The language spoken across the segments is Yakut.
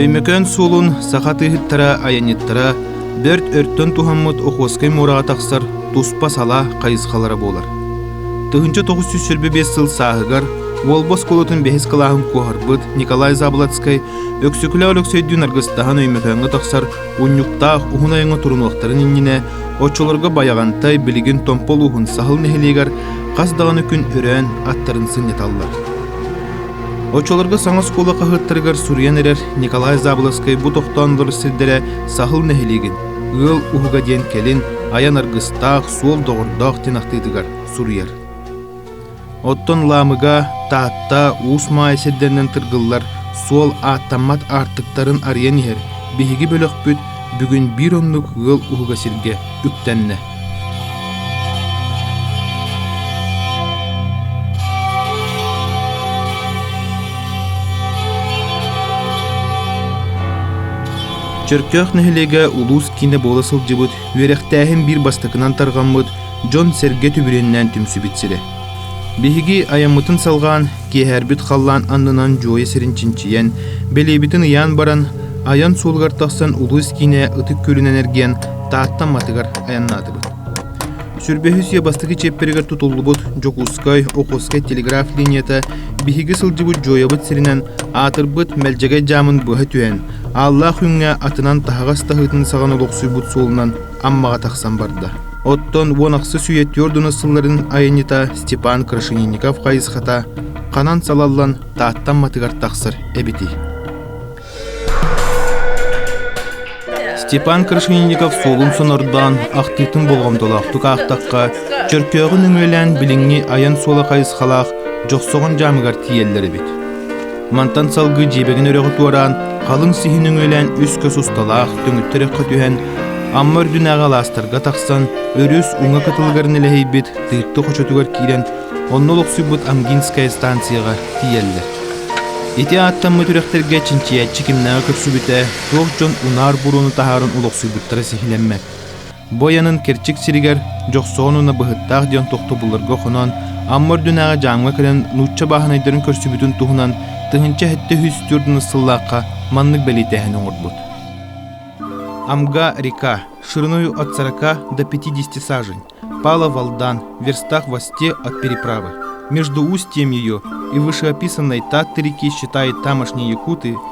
Өймөкөөн суолун саха атыыһыттара айанньыттара бэрт өртөн туһаммыт Охуоскай муораҕа тахсар туспа сала хайысхалара буолар. Тыһынча тоғыз жүз сөрбөбиэс сыл сааһыгар Волбос кулатын бэһис кылааһын куоһарбыт Николай Заблацкай Өксөкүлэ Олөксөйдүүн аргыстаһан Өймөкөөҥҥө тахсар Унньуктаах уһун айаҥа турунуохтарын иннинэ оччолорго Байаҕантай билигин Томпо улууһун Саһыл нэһилиэгэр хас даҕаны күн өрөөн аттарын сынньаталлар. Оччолорго саҥа оскуола хаһыаттарыгар суруйан эрэр Николай Забыловскай бу тохтоон олорор сирдэрэ Саһыл нэһилиэгин ыал уһуга диэн кэлин айан аргыстаах, суол доҕордоох тинахтыытыгар суруйар. Оттон Ламыга, Таатта, Уус Маай сирдэринэн тыргыллар суол ааттаммат аартыктарын арыйан иһэр биһиги бөлөхпүт бүгүн биир оннук ыал уһуга сиргэ үктэннэ. Чөркөөх нэһилиэгэ улуус киинэ буола сылдьыбыт үөрэхтээһин биир бастакынан тарҕаммыт дьон-сэргэ түбүрүннээн түмсүбүт сирэ. Биһиги айаммытын салҕаан, киэһэрбит халлаан аннынан дьуойа сирин чинчийэн, бэлиэбитин ыйаан баран, айан суолугар тахсан улуус киинэ ытык күлүнэн эргийэн Тааттам атыгар айаннаатыбыт. Сүрбэһисия бастакы чиэппэригэр тутуллубут Дьокуускай, Охотскай телеграф линията биһиги сылдьыбыт дьуойабыт сиринэн аатырбыт мэлдьэгэй дьаамын быһа түһэн, Ааллаах Үҥҥэ атынан таһаҕас таһыытын саҕана олохсуйбут суолунан Аммаҕа тахсан барда. Оттон уон ахса сүүйэ түөрт уон сылларын айанньыта Степан Крашенинников хайысхата ханан салаллан Тааттамматыгар тахсар эбитий? Степан Крашенинников суолун сонордоон ахтыытын болҕомтолоохтук аахтахха, чөркөөҕү нөҥүөлээн билиҥҥи айан суола хайысхалаах Дьохсоҕон дьаамыгар тиийэллэр эбит. Мантан салгыы дьиэбэгин өрөҕү туораан, халыҥ сиһин өҥөлөөн үс көс усталаах түҥүттэри өккө түһэн, Амма үрдүнээҕи алаастарга тахсан, өрүс уҥа кытылыгар нэлэһийбит тыырты хочотугар киирэн, онно олохсуйбут Амгинская станцияҕа тиийэллэр. Ити ааттаммыт үрэхтэргэ чинчийээччи кимнээҕи көрсүбүтэ, туох дьон унаар буруону таһааран олохсуйбуттара сиһилэммэт. Бу айанын кэрчик сиригэр Дьохсоҕон уонна Быһыттаах диэн тохтобулларга хоноон Амма үрдүнээҕи Дьааҥыга кэлэн нуучча бааһынайдарын көрсүбүтүн туһунан тыһыынча сэттэ үс түөрт ыныс сыллаахха маннык бэлиэтээһин оҥорбут. Амга река шириною от 40 до 50 сажень, пала Валдан, верстах Восте от переправы. Между устьем ее и вышеописанной Татты реки считает тамошние якуты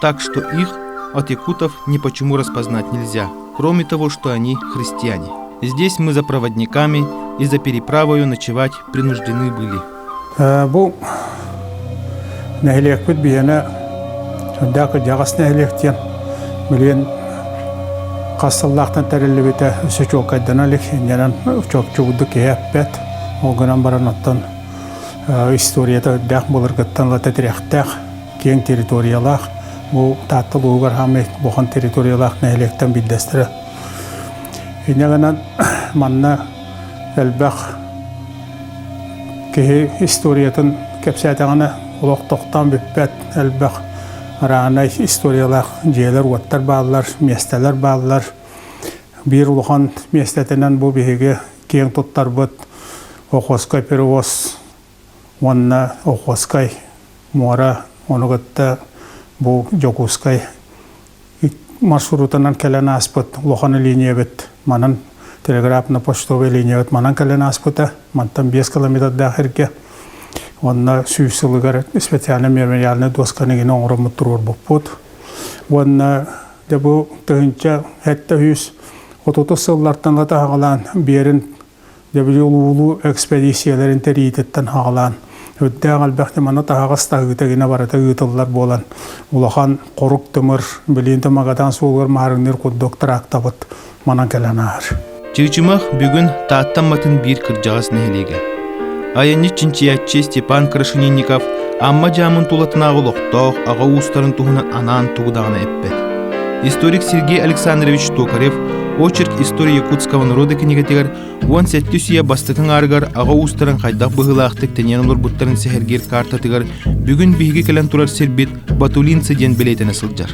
Так что их от якутов ни почему распознать нельзя, кроме того, что они христиане. Здесь мы за проводниками и за переправою ночевать принуждены были. Бу нэһилиэкпит биһиэнэ сырдаах дьаҕас нэһилиэктиэн билигин хас сыллаахтан тэриллибитэ өссө чуолкайдана илик инньэнэн чопчубурду киһи эппэт ол гынан баран оттон историята үрдээх былыргыттан лата тирэхтээх киэҥ территориялаах бу Таатта улууһугар хаамай Бохан территориялаах нэһилиэктэн биирдэстэрэ. Иннэ гынан манна элбэх киһи историятын кэпсээтэҕинэ олох тохтоон бүппэт элбэх араанай историялаах дьиэлэр-уоттар бааллар, миэстэлэр бааллар. Биир улахан миэстэтинэн бу биһиги киэҥ туттарбыт Охоскай перевоз уонна Охвоскай муора ону кытта бу Дьокуускай маршрутунан кэлэн ааспыт улахан линиябыт манан телеграфно-почтовый линиябыт манан кэлэн ааспыта мантан биэс километрдаах эргэ уонна сүүс сылыгар специальный мемориальный доска нигини оҥороммут туруорбуппут уонна дьэ бу тыһынча сэттэ үс отутус сыллартан латаһаҕалаан биэрин Дьабдьылуулуу экспэдииссийэлэрин тэриититтэн хаалаан, үрдээх элбэхтэ маны таһаҕас таһыыта гына барыта ыытыллар буолан, улахан хорук-тымыр, билиин да магатаан суолугар маарынныыр курдук трактабыт манан кэлэн ааһар. Чыычымах бүгүн Тааттан Матын биир кырдьаҕас нэһилиэгэ. айанньыт чинчийээччи Степан Крашенинников Амма дьаамын тулатынааҕы олохтоох аҕа уустарын туһунан анаан тугу даҕаны эппэт. Историк Сергей Александрович Токарев «Очерк истории якутского народа» кинигэтигэр уон сэттис үйэ бастакы аарыгар аҕа уустарын хайдах быһыылаахтык тэнийэн олорбуттарын сэһэргиир каартатыгар бүгүн биһиги кэлэн турар сирбит Батулинцы диэн бэлиэтэнэ сылдьар.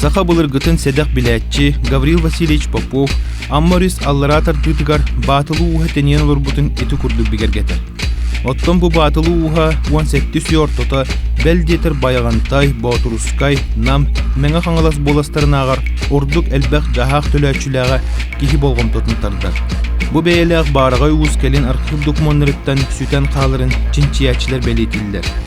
Саха былыргытын сэдэх билээччи Гаврил Васильевич Попов Амма өрүс аллараа тардыытыгар баатылы ууһа тэнийэн олорбутун ити курдук бигэргэтэр. Оттон бу баатылы ууһа уон сэттис үй ортото бэл диэтэр Байаҕантай, Боотурускай, Нам, Мэҥэ Хаҥалас буоластарынааҕар ордук элбэх дьаһаах төлөөччүлээҕэ киһи болҕомтотун тардар. Бу бэйэлээх баараҕай уус кэлин архыып докумуоннарыттан сүтэн хааларын чинчийээччилэр бэлиэтииллэр.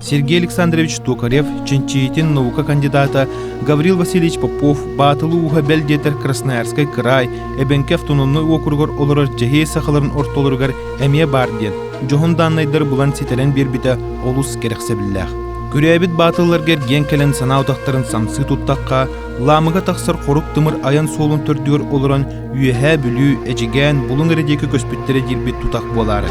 Сергей Александрович Токарев, чинчийитин наука кандидата, Гаврил Васильевич Попов, Баатылы ууһа бэл диэтэр Красноярскай кыраай, Эбэҥки автономнай уокуругар олорор дьэһиэ сахаларын ортолоругар эмиэ баар диэн дьоһун дааннайдары булан ситэрэн биэрбитэ олус кэрэхсэбиллээх. Күрээбит баатылларгар киэн кэлэн санаа утахтарын самсыы туттахха, Лаамыга тахсар хорук-тымыр айан суолун төрдүгэр олорон Үөһээ Бүлүү, Эдьигээн, Булун эрэ диэки көспүттэрэ диирбит тутах буолаары.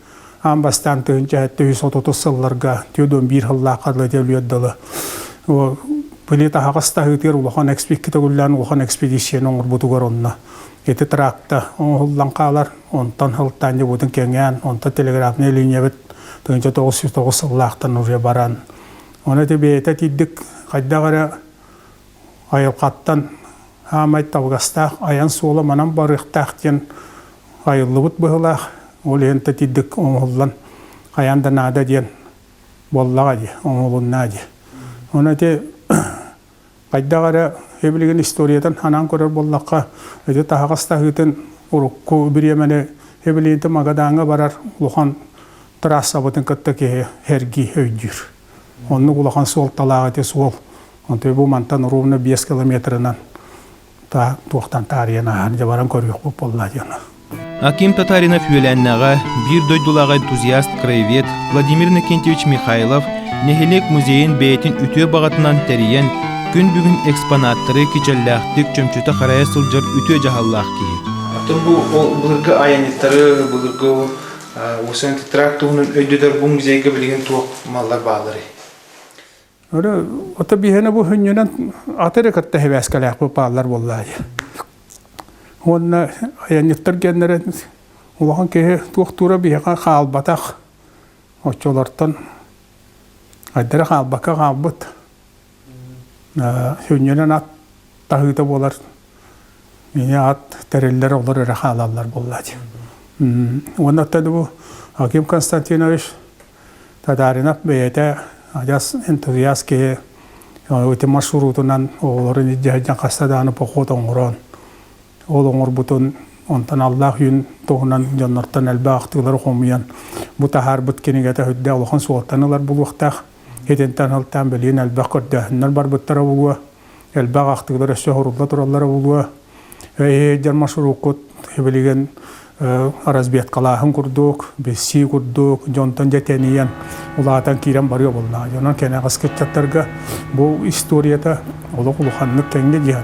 аан бастаан төһүс отутус сылларга түөдүөн биир сыллаахха дылы дылы били таһаҕас таһыытыгар улахан экспиккитэ гуллаан улахан экспедицияны оҥорбутугар онно ити тракта оҥоһуллан хаалар онтон сылтаан дьыбытын кэҥээн онтон телеграфный линиябыт тыынча тоҕус сүүс тоҕус сыллаахтан уже баран оны ити бэйэтэ тиийдик хайдах эрэ айылҕаттан аамай табыгастаах айан суола манан барыахтаах диэн айыллыбыт быһылаах, ол иһин тэтийдик оҥоһуллан хайаан да наада диэн буоллаҕа дии, оҥоһулуннаа дии. Ону ити хайдах эрэ билигин историятын анаан көрөр буоллахха, ити таһаҕас таһыытын урукку бириэмэни Эвелинти Магадааҥҥа барар улахан трассабытын кытта киһи эргии өйдүүр. Оннук улахан суолталаах ити суол. Онту бу мантан ровно биэс километрынан та туохтан таарыйан ааһан дьэ баран көрүөхпут буолла диэн Аким Татаринов үөлээннээҕэ биир дойдулааҕы энтузиаст краевед Владимир Иннокентьевич Михайлов нэһилиэк музейын бэйэтин үтүө баҕатынан тэрийэн күн бүгүн экспонаттары кичэллээхтик чөмчүтэ харайа сылдьар үтүө дьаһаллаах киһи атын бу былыргы аяниттары былыргы осен тетрак туһунан өйдөтөр бу музейга билигин туох маллар баалларый Ото биһэни бу хүнньүнэн аты эрэ кытта хебээскэлээхпи пааллар буоллаайы. Уонна айанньыттар геннерен улахан киһи туохтуура биһиэхэ хаалбатах. Оччолортон айдара хаалбакка хаалбыт. Хүнньүнэн ат таһыыта буолар Ини ат тэриллэр олор эрэ хаалаллар буоллаачы. Уонна оттон бу Аким Константинович Татаринов бэйэтэ адьас энтузиаст киһи ити маршрутунан оҕолорун илдьэ хаста даҕаны похуот оҥорон ол оҥорбутун онтон аллаах үүн туһунан дьоннортон элбэх ахтыылары хомуйан бу таһаарбыт кинигэтэ үрдэ улахан суолтаны ылар булуохтаах итинтэн сылтаан билигин элбэх көрдөөһүннэр барбыттара буолуо элбэх ахтыылар өссө хорулла тураллара буолуо дьар маршруккут билигин разведкалааһын курдук билсии курдук дьонтон дьэ тэнийэн улаатан киирэн барыа буоллаҕа дьонон кэнэҕэс кыччаттарга бу историята олох улаханнык кэннэ диэхэ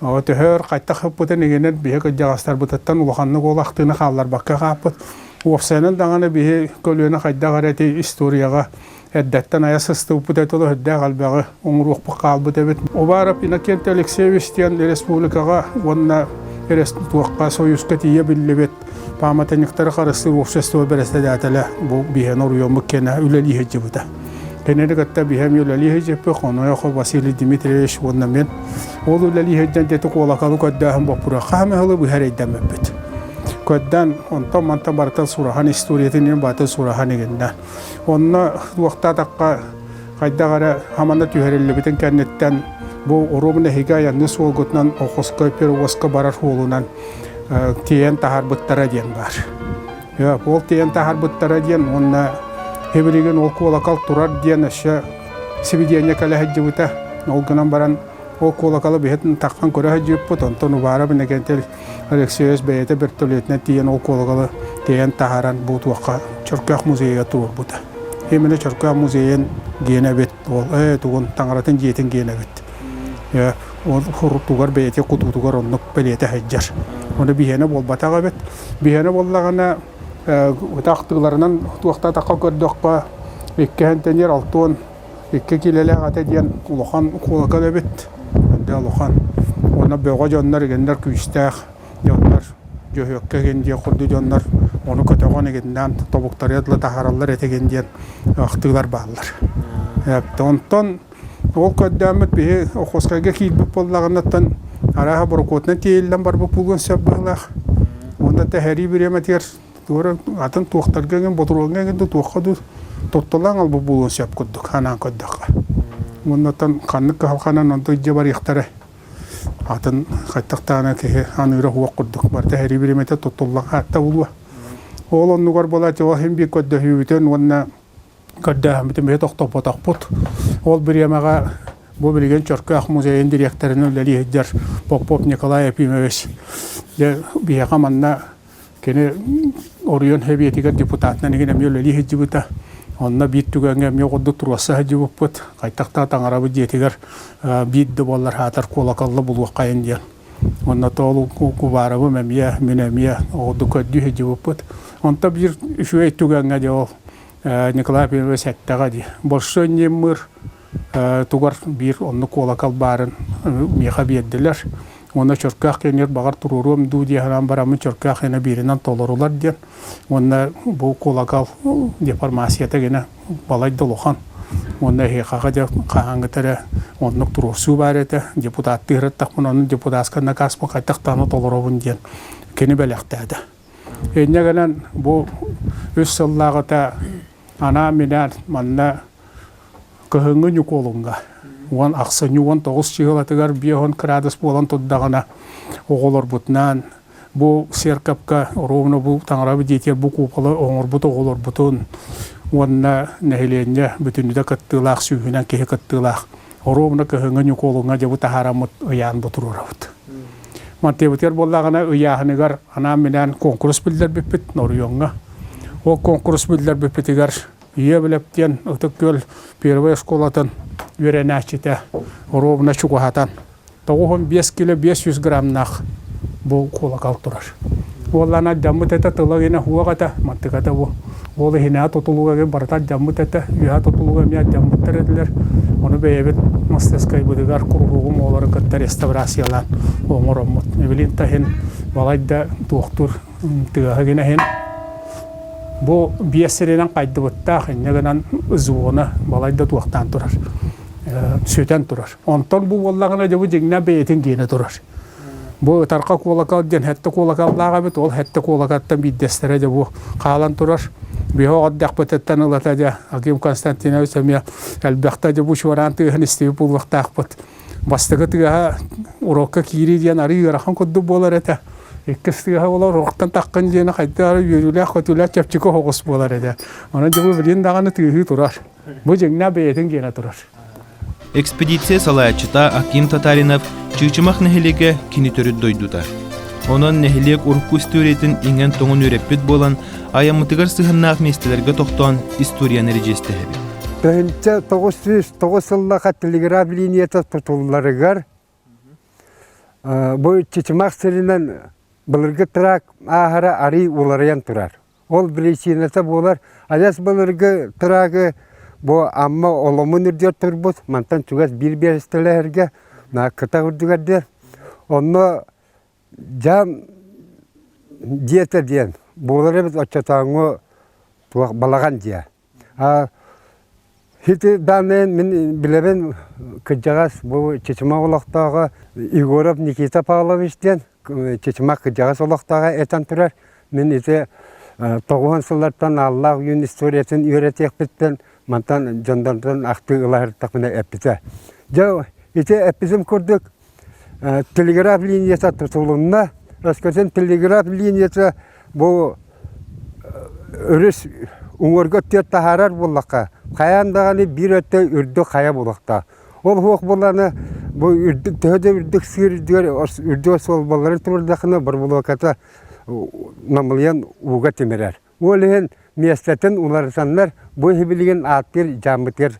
Төһөр хайтах ыппытын игинен биһи кырдьаҕастарбытыттан улаханнык улахтыыны хаалларбакка хааппыт. Уопсайынан даҕаны биһи көлүөнэ хайдах эрэти историяҕа эрдэттэн айа сыстыбыппыт этило үрдээх элбэҕи оҥоруохпут хаалбыт эбит. Убаров Иннокентий Алексеевич диэн республикаҕа уонна туохха союзка тиийэ биллибит Пааматынньыктарга Арассыыйа общество бэрэссэдээтэлэ бу биһиэни оройуоммут киэнэ үлэлии сылдьыбыта. Кинини кытта биһиэм үлэлии сылдьыппыт, Хоноев Василий Дмитриевич уонна мен. Ол үлэлии сылдьан дьити куолакабы көрдөөһүн боппура хаһан ыһылы быһа эрэйдэммиппит. Көрдан, онтон-мантан барытын сурахан историятын, батын сурахан игиннэ. Онно туохтаатахха хайдах эрэ амана түһэриллибитин кэнниттэн бу уруубун эһиги айанныы суолгутунан Охоской пировозка барар уолунан тиэйэн таһарбыттара диэн баар. Ол тиэйэн таһарбыттара диэн уонна хибиригин ол куолакал турар диэн өссө сибидиэнньэ кэлэ сылдьыбыта. Ол гынан баран ол куолакалы биһэтин таххан көрө сылдьыппыт, онтон убаара бинэгэнтел Алексеевич бэйэтэ вертолетинэн тиийэн окуологаны тиэйэн таһааран бу туохха Чөркөөх музейга туруорбута. Именно Чөркөөх музейын диэн эбит. Ол ээ тугун таҥаратын дьиэтин диэн эбит. Хурутугар бэйэтин кутуутугар оннук бэлиэтэ сылдьар. Ону биһиэнэ буолбатах эбит. Биһиэнэ буоллаҕына ытахтыыларынан туохтатахха көрдөххө иккиһэн тэниэр алтыан Икки килэлэх ате диэн улахан куолакан эбит. Эрдэ улахан. Уонна бөҕө дьоннор игэннэр күүстээх дьоннор дьөһүөккэ игин диэн курдук дьоннор ону көтөҕөн игиннээн тобуктары дылы таһаараллар этигин диэн ахтыылар бааллар. Онтон ол көрдөэммит биһи Охотскайга киирбит буоллаҕынаттан арааһа борокуотунан тиэйиллэн барбыт буолуон сөп быһылаах. Уонна тэһэрии бириэмэтигэр Туора атын туохтарга эҥин, ботуруолга эҥин да туохха да тоттолаан албы буолуон сөп курдук ханаан көрдөххө. Оннуттан ханнык кыһалханан онто дьэ барыахтара. Атын хаттахтаана киһи аныыра хуох курдук барта хэри биримэтэ тоттуллан аатта булуа. Ол оннугар болады ол хин бик көрдөһүүбүтүн уонна көрдөһөммүтүн бэйэ тохтоппотохпут. Ол бириэмэҕэ бу билигин Чөркөөх музейын директорын үлэлиһдер Попов Николай Епимович. Биһиэхэ манна Кини Оройуон Сэбиэтигэр депутатынан игин эмиэ үлэлии сылдьыбыта. Онно биир түгэҥҥэ эмиэ курдук туруорса сылдьыбыппыт. Хайтахтаа таҥарабыт дьиэтигэр биир да буоллар аатар куолакалла булуоххайын диэн. Онно тоол кубаарабым эмиэ, мин эмиэ ордук көрдүү сылдьыбыппыт. Онто биир үчүгэй түгэҥҥэ дьэ ол Николай Петрович эттэҕэ дии. Большой Немыр тугар биир онно куолакал баарын миэхэ биэрдилэр уонна чөркөөх кэнигэр баҕар туруоруом дуу диэһэрээн бараммын чөркөөх кэнэ бииринэн толорулар диэн уонна бу куолакал деформацията гинэ балайда улахан уонна эһиэхаҕа дьэ хаһааҥҥыта эрэ оннук туруорсуу баар этэ депутаттыыраттахпын ону депутатска накааспын хайтахтааны толоробун диэн кини бэлэхтээтэ инньэ гынан бу үс сыллааҕыта Анаан минээн манна кыһыҥҥы Ньукуолуҥҥа уон ахсынньы уон тоҕус чыһылатыгар биэһон кыраадыс буолан турдаҕына оҕолорбутунаан бу Серкапка ровно бу таҥараба дети бу куполы оҥорбут оҕолорбутун уонна нэһилиэнньэ бүтүннүтэ кыттыылаах сүүһүнэн киһи кыттыылаах Хоруобуна көһөҥө Ньукуолуҥа дьабы таһаараммыт ыйаан бу туруорабыт. Мантыйабытыгар буоллаҕына ыйааһыныгар анаан-минээн конкурс биллэрбиппит Норүйоҥҥа. Ол конкурс биллэрбиппитигэр Ийэбилэп диэн Ытык Күөл первой оскуолатын үөрэнээччитэ Хоруобуна чугаһатан тоҕус уон биэс кило биэс сүүс граммнаах бу куолакал турар. Уоллаан альдаммыт этэ, тыла-өйүнэ уох этэ, маттык этэ бу. Уол иһинэҕэ тутулуга барыта альдаммыт этэ, үөһэ тутулуга эмиэ альдаммыттар этилэр. Ону бэйэбит мастерскайбытыгар куруһуогум оҕолору кытта реставрациялаан оҥороммут. Эбилин таһын балайда туохтуур тыаһа гына иһин бу биэс сиринэн хайдыбыттаах инньэ гынан звено балайда туохтаан турар сүтэн турар Онтон бу буоллаҕына дьэ бу дьиҥнээх бэйэтин диэнэ турар. Бу ытарха куолакал диэн хэттэ куолакаллаах эбит, ол хэттэ куолакаттан биирдэстэрэ дьэ бу хаалан турар. Биһи оҕордохпутуттан ылата дьэ Аким Константинович эмиэ элбэхтэ дьэ бу чуораан тыаһын истиби булуохтаахпыт. Бастакы тыаһа урокка киирии диэн арыый ыарахан курдук буолар этэ. Иккис тыаһа болар уруктан таххын диэни хайдах эрэ үөрүүлээх-көтүүлээх чэпчэки оһоҕос буолар этэ. Онон дьэ бу билин даҕаны тыаһыы турар. Бу дьиҥнээх бэйэтин киэнэ турар. Экспедиция салааччыта Аким Татаринов Чыычымах нэһилиэгэ кини төрүт дойдута. Онон нэһилиэк урукку историятын иҥэн-тоҥун үөрэппит буолан, айаммытыгар сыһыннаах миэстэлэргэ тохтоон историяны эридьиэстэһэбит. Тыһынча тоҕус сүүс тоҕус сыллаха телеграф линията тутулларыгар бу Чычымах сиринэн былыргы трак ааһара арый уларыйан турар. Ол древесината буолар. Адьас былыргы тыраагы бу Амма Оломун үрдүгэр турбут, мантан чугас биир биэрэстэлэһэргэ мына кыта үрдүгэр диэн. Онно дьаам дьиэтэ диэн буолар эбит оччотооҥҥу туох балаҕан дьиэ. Ити данныйын мин билэбин кырдьаҕас бу Чычыма олохтооҕо Егоров Никита Павлович диэн Чычыма кырдьаҕас олохтооҕо этэн турар. Мин ити тоҕуһан сыллартан Ааллаах Үүн историятын үөрэтиэхпиттэн мантан дьоннорбун ахтыы ылаһыртахпына эппитэ. Дьэ ити эппитим курдук телеграф линията тутулунна өскөтүн телеграф линията бу өрүс уҥуорга өттүгэр таһаарар буоллахха хайаан даҕаны биир өттө үрдүк хайа буолуохтаах ол суох буолланы бу үрдүк төһө да үрдүк сыыр үрдүгэр суолбаларын тумурдахына борбулуоката намылыйан ууга тимирэр Ол иһин миэстэтин уларытаннар бу иһибилигин ааттыыр дьааммытыгар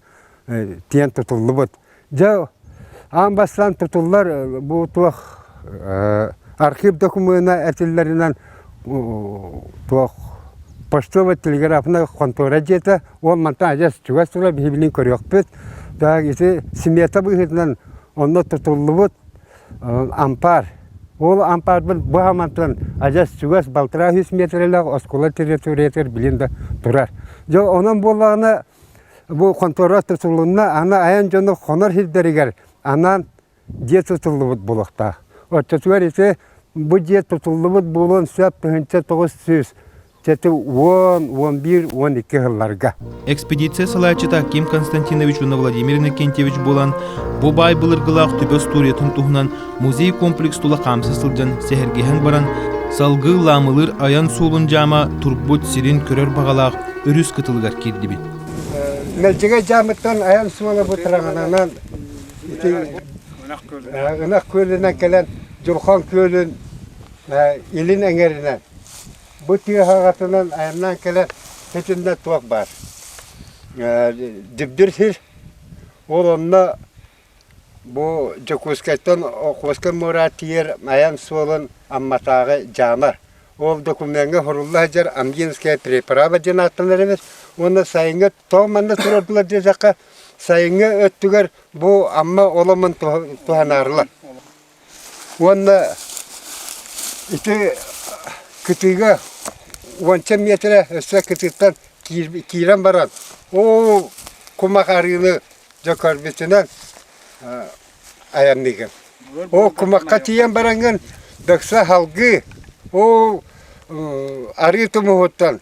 тиэн тутуллубут. Дьэ, аан бастаан тутуллар бу туох архив докумуона этиллэринэн туох почтовай телеграфная контора дьиэтэ ол мантан адьас чугас турар биһибилин көрүөхпүт. Таах ити смета быһыытынан онно тутуллубут ампаар ол ампаарбын быһамантан адьас чугас балтараа үс миэтэрэлээх оскуола территориятыгар билин да турар дьэ онон буоллаҕына бу хонтуора тутулунна аны айан дьону хонор сирдэригэр анаан дьиэ тутуллубут буолуохтаах оччотугар ити бу дьиэ тутуллубут буолуон сөп тыһыынча тоҕус сүүс Чэти уон, уон биир, уон икки сылларга. Экспедиция салааччыта Ким Константинович уонна Владимир Иннокентьевич буолан, бу баай былыргылаах түбэ устуоруйатын туһунан музей комплекс тула хаамса сылдьан сэһэргэһэн баран, салгыы Лаамылыр айан суолун дьаама турбут сирин көрөр баҕалаах өрүс кытылыгар киирдибит. Мэлдьэгэ дьаамыттан айан суола бутараҕананан ынах күөлүнэн кэлэн Дьурхан күөлүн илин эҥэринэн Бу тыаһаҕатынан айаннаан кэлэн итиннэ туох баар. Дибдир сир ол онно бу Дьокуускайтан Охотскай муораат тиийэр айан суолун Амматааҕы дьаамар. Ол докумуоҥҥа сурулла сылдьар Амгинское переправа диэн ааттанар эбит уонна сайыҥҥы тоҕо манна турардылар диэтэххэ, сайыҥҥы өттүгэр бу Амма оломун туһанаарылар. уонна ити кытыыга уонча метрэ өссө кытыыттан киирэн баран уу кумах арыыны дьэ көрбүтүнэн айанныыгын ол кумахха тиийэн бараҥҥын дакса салгыы ол арыы тумуһуттан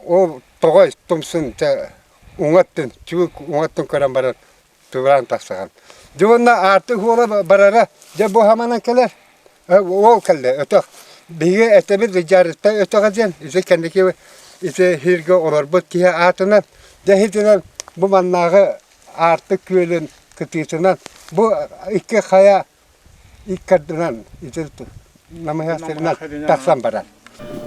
ол тоҕой тумсун чэ уҥаттын чугуй уҥаттын көрөн баран тылаан тахсаҕын. Дьэ уонна артык уола барара, дьэ бу хаманан кэлэр. Уол кэллэ өтөх. Биһиги этэбит Дьаарытта өтөҕө диэн, ити кэнники ити иһиргэ олорбут киһи аатынан, дьэ иһитинэн бу маннааҕы аартык күөлүн кытыытынан бу икки хайа иккардынан ити намыһастарынан тахсан барар.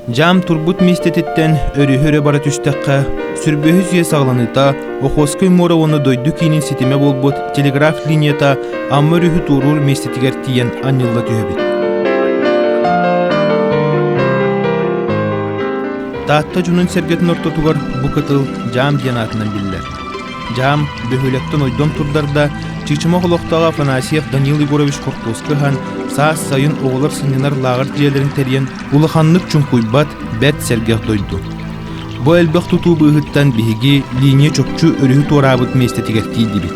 Дьаам турбут миэстэтиттэн өрүһү өрө бара түстэххэ, сүрбүөһү сүйэ саҕаланыта, Охуоскай муора уонна дойду киинин ситимэ буолбут телеграф линията Амма өрүһү туоруур миэстэтигэр тиийэн анньылла түһэбит. Таатта дьонун сэргэтин ортотугар бу кытыл Дьаам диэн аатынан биллэр. Дьаам бөһүөлэктэн ойдом турдарда, Чычымах олохтооҕо Афанасьев Данил Егорович хортуоска ыһан, саас сайын оҕолор сынньанар лааҕыр дьиэлэрин тэрийэн, улаханнык чуҥкуйбат, бэрт сэргэх дойду. Бу элбэх тутуу быыһыттан биһиги линия чопчу өрүһү туораабыт миэстэтигэр тиийдибит.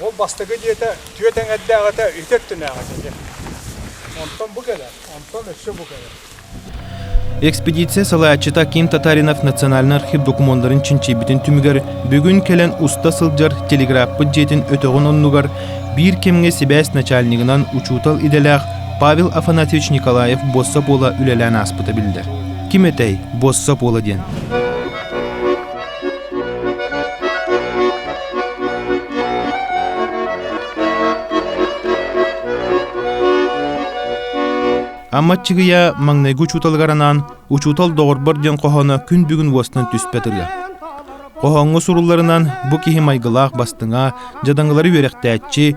Ол бастакы дьиэтэ түөрт эҥэрдээҕитэ ити өттүнээҕитэ дьэ. Онтон бу кэлэр, онтон өссө бу кэлэр. Экспедиция салайааччыта Ким Татаринов национальнай архив докумуоннарын чинчийбитин түмүгэр бүгүн кэлэн уста сылдьар телеграфпыт дьиэтин өтөҕүн оннугар биир кэмҥэ сибээс начальнигынан учуутал идэлээх Павел Афанасьевич Николаев буоссап уола үлэлээн ааспыта биллэр. Ким этэй буоссап уола диэн? Амма Чыгыя маҥнайгы учууталыгар анаан «Учуутал доҕорбор» диэн хоһооно күн бүгүн уостан түспэт ыла. Хоһооҥҥо сурулларынан бу киһи майгылаах бастыҥа, дьадаҥылары үөрэхтээччи,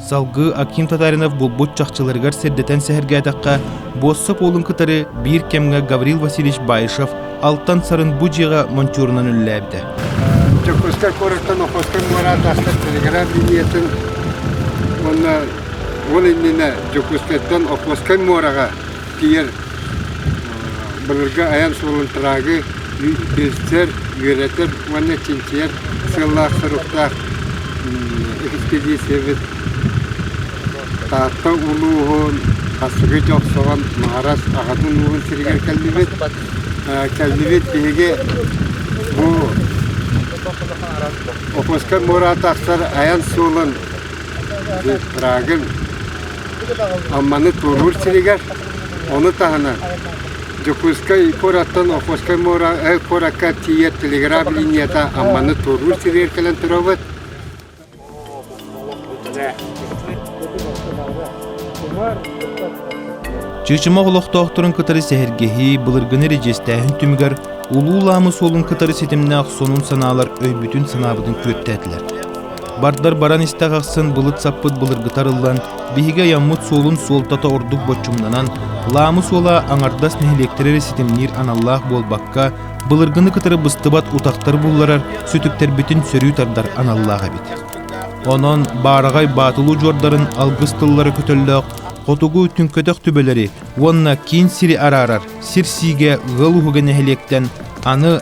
Салгыы Аким Татаринов булбут чахчыларыгар сирдэтэн сэһэргээтэххэ, буоссап уолун кытары биир кэмҥэ Гаврил Васильевич Баишев алтан сарын бу дьиэҕэ монтюрунан үлэлээбитэ. Дьокуускай куораттан Охотскай муораат астар телеграм-линиятын уонна ол иннинэ Дьокуускайтан Охотскай муораҕа тиийэр былыргы айан суолун тыраагы билсэр, үөрэтэр уонна чинчийэр сыаллаах-соруктаах экспедициябыт Таатта улууһун Хасыгы Дьохсоҕон Маарас аҕатын ууһун сиригэр кэллибит. Кэллибит биһиги бу Опоскай муора тахсар айан суолун Прагын Амманы туоруур сиригэр, ону таһынан Дьокуускай куораттан Охотское муора э, куоракка тиийэр телеграм-линията Амманы туоруур сиригэр кэлэн туруобут. Чычымах олохтоохторун кытары сэһэргэһии былыргыны режистээһин түмүгэр улуу Лаамы суолун кытары ситимнээх сонун санаалар өйбүтүн санаабытын күөртээтилэр. Бардар баран истэх ахсын былыт-саппыт былыргыта арыллан, биһиги ойоммут суолун суолтата ордук боччумнанан, Лаамы суола аҥардас нэһилиэктэр эрэ ситимниир аналлаах буолбакка, былыргыны кытары быстыбат утахтары булларар, сүтүктэрбитин сөрүү тардар аналлаах эбит. Онон Баараҕай Баатылуу дьуордарын алгыс тыллара көтөллөөх Хотугу түҥкөтөх түбэлэри уонна киин сири араарар сир сиигэ ыал уһуга нэһилиэктэн аны